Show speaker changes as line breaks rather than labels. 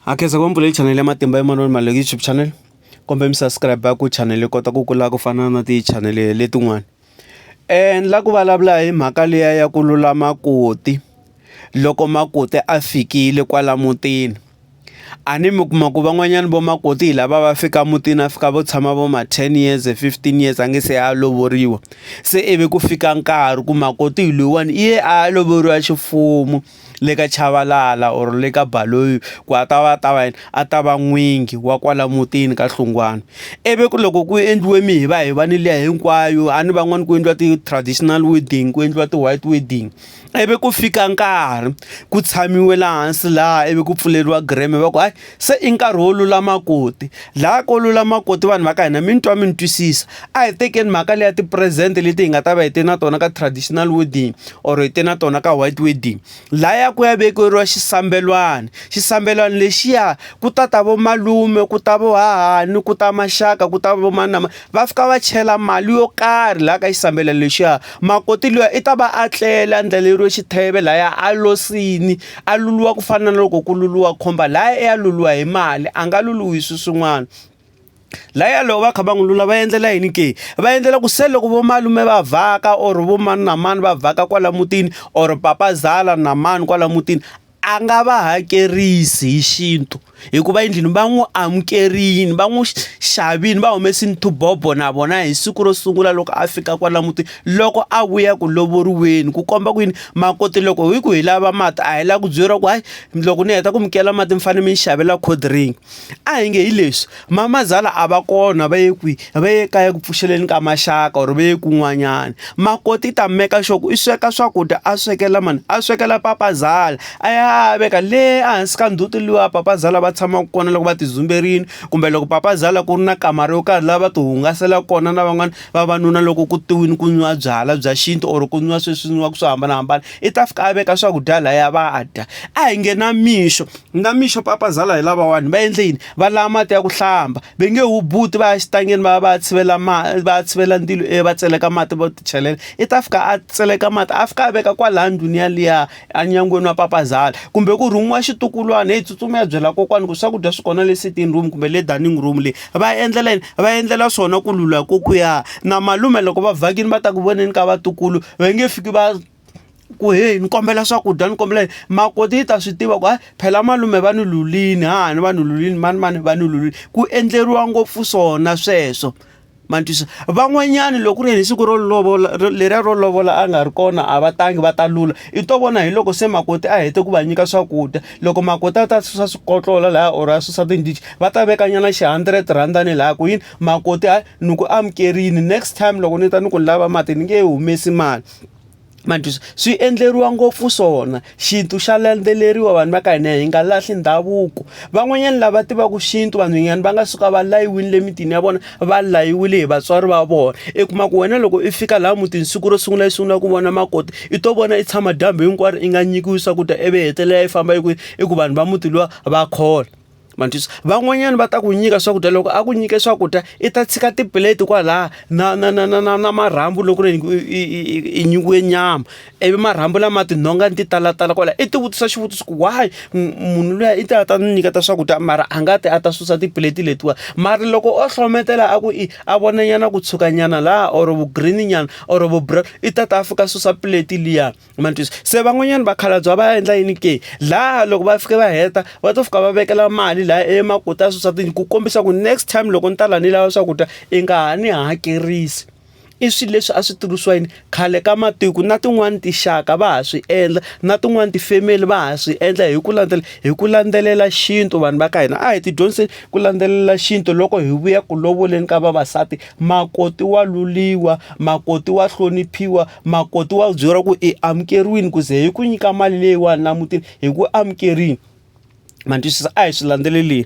Ha khensa ku va mi pfulele chanel ya Matimba ya Manana Maluleke YouTube channel kombela mi subscribe ku chanel yi kota ku kula ku fana na ti chanel letin'wani ni la ku vulavula hi mhaka liya ya ku lulama koti loko makoti a fikile kwala mutini a ni mi kuma ku van'wanyana vo makoti hi lava va fika mutini a fika vo tshama vo ma ten years fifteen years a nge se a lovoriwa se ivi ku fika nkarhi ku makoti hi loyiwani i ye a lovoriwa ximfumo. le ka Chavalala or le ka Baloyi ku a ta va a ta va yini a ta va n'wingi wa kwala mutini ka Hlungwana ivi ku loko ku endliwe mihivahivaneni liya hinkwayo a ni van'wani ku endliwa ti-traditional wedding ku endliwa ti-white wedding ivi ku fika nkarhi ku tshamiwe laha hansi laha ivi ku pfuleriwa greme va ku hayi. se i nkarhi wo lulama koti laha ko lulama koti vanhu va ka hina mi ni twa mi ni twisisa a hi tekeni mhaka leya ti-present leti hi nga ta va hi te na tona ka traditional wedding or hi te na tona ka white wedding laya ku ya vekeriwa xisambelwani xisambelwani lexiya ku ta ta vo malume ku ta vo hahani ku ta maxaka ku ta vo manama va fika va chela mali yo karhi laha ka xisambelwani lexiya makoti luya i ta va a tlela a ndlaleriwe xitheve laya a losini A luluwa ku fana na loko ku luluwa khomba laya ya luluwa hi mali a nga luluwi swi swin'wana laya loko va kha va n'wi lula va endlela yini ke va endlela ku se loko vo malume va vhaka or vo mani na mani va vhaka kwala mutini or papazala na mani kwala mutini a nga va hakerisi hi xintu. hikuva endlini va n'wi amukerile va n'wi xavile va humesile tibobo na vona hi siku ro sungula loko a fika kwala mutini loko a vuya ku lovoriweni ku komba ku yini makoti loko hi ku hi lava mati a hi lava ku byeriwa ku hayi loko ni heta ku mi kela mati mi fanele mi ni xavela cold drink a hi nge hi leswi. Mamazala a va kona va ye kwi va ye kaya ku pfuxeleni ka maxaka or va ye kun'wanyana makoti ta meka sure ku i sweka swakudya a swekela mani a swekela papazala a ya a veka le ehansi ka ndzhuti luwa papazala va tshamaka kona loko va ti dzumberile kumbe loko papazala ku ri na kamara yo karhi lava va ti hungasela kona na van'wana vavanuna loko ku te wini ku nwiwa byalwa bya xintu or ku nwiwa sweswi nwiwaka swo hambanahambana i ta fika a veka swakudya laya va dya a hi nge na mixo na mixo papazala hi lavawani va endle yini. va lava mati ya ku hlamba va nge hubuti va ya xitangeni va ya va ya tshivela mati va ya tshivela ndzilo e va tseleka mati vo ti chelela i ta fika a tseleka mati a fika a veka kwalaya ndhuni yaliya enyangweni wa papazala kumbe ku rhumiwa xitukulwana heyi tsutsuma ya byela kokwana ku swakudya swi kona le sitting room kumbe le dining room leyi va endlela yini va endlela swona ku lula kokuya na malume loko va vhakile va ta ku voneni ka vatukulu va nge fiki va. ku heyi ni kombela swakudya ni kombela makoti yi ta swi tiva ku hayi phela malume va ni lulini ha ni va ni lulini mani mani va ni lulini ku endleriwa ngopfu swona sweswo ma ni twisa van'wanyana loko ku ri hi siku ro lovola leriya ro lovola a nga ri kona a va tangi va ta lula i to vona hi loko se makoti a hete ku va nyika swakudya loko makoti a ta susa swikotlola lahaya or a susa tindhichi va ta veka nyana xi hundred rhanda ni lahaya ku yini makoti hayi ni ku amukerile next time loko ni ta ni ku ni lava mati ni nge humesi mali. manjhusi swi endleriwa ngopfu swona xintu xa landzeleriwa vanhu va ka hina hi nga lahli ndhavuko van'wanyani lava tivaku xintu vanhwanyani va nga suka va layiwini le mitini ya vona va layiwile hi vatswari va vona i kuma ku wena loko i fika laha mutini siku ro sungula i sungula ku vona makoti i to vona i tshama dyambu hinkwaro i nga nyikiwi swakudya ivi hetelela i famba i ku i ku vanhu va muti luwa va khola. manjhisa van'wanyana va ta ku nyika swakudya loko a ku nyike swakudya i ta tshika tiplate kwalaha na na na na na na marhambu loko ri i nyikiwe nyama ivi marhambu lama tinhonga ni ti talatala kwalaho i ti vutisa xivutiso ku why munhu luya i ta a ta ni nyiketa swakudya mara a nga ti a ta susa tiplate letiwani mara loko o hlohletela a ku i a vona nyana ku tshuka nyana laha or vu green nyana or vu brown i ta ta a fika susa plate liya. ma twisisa se van'wanyana vakhalabya va endla yini ke laha loko va fika va heta va to fika va vekela mali laha emakuti a swisatini ku kombisa ku next time loko ni ta la ni lava swakudya i nga ha ni hakerisi i swilo leswi a swi tirhisiwa yini khale ka matiko na tin'wani tinxaka va ha swi endla na tin'wani ti-family va ha swi endla hi ku landzela hi ku landzelela xintu vanhu va ka hina a hi ti dyondzise ku landzelela xintu loko hi vuya ku lovoleni ka vavasati makoti wa luliwa makoti wa hloniphiwa Makoti wa byeriwa ku i amukeriwile ku ze hi ku nyika mali leyiwani laha mutini hi ku amukerile ma ni twisisa a hi swi landzeleleli.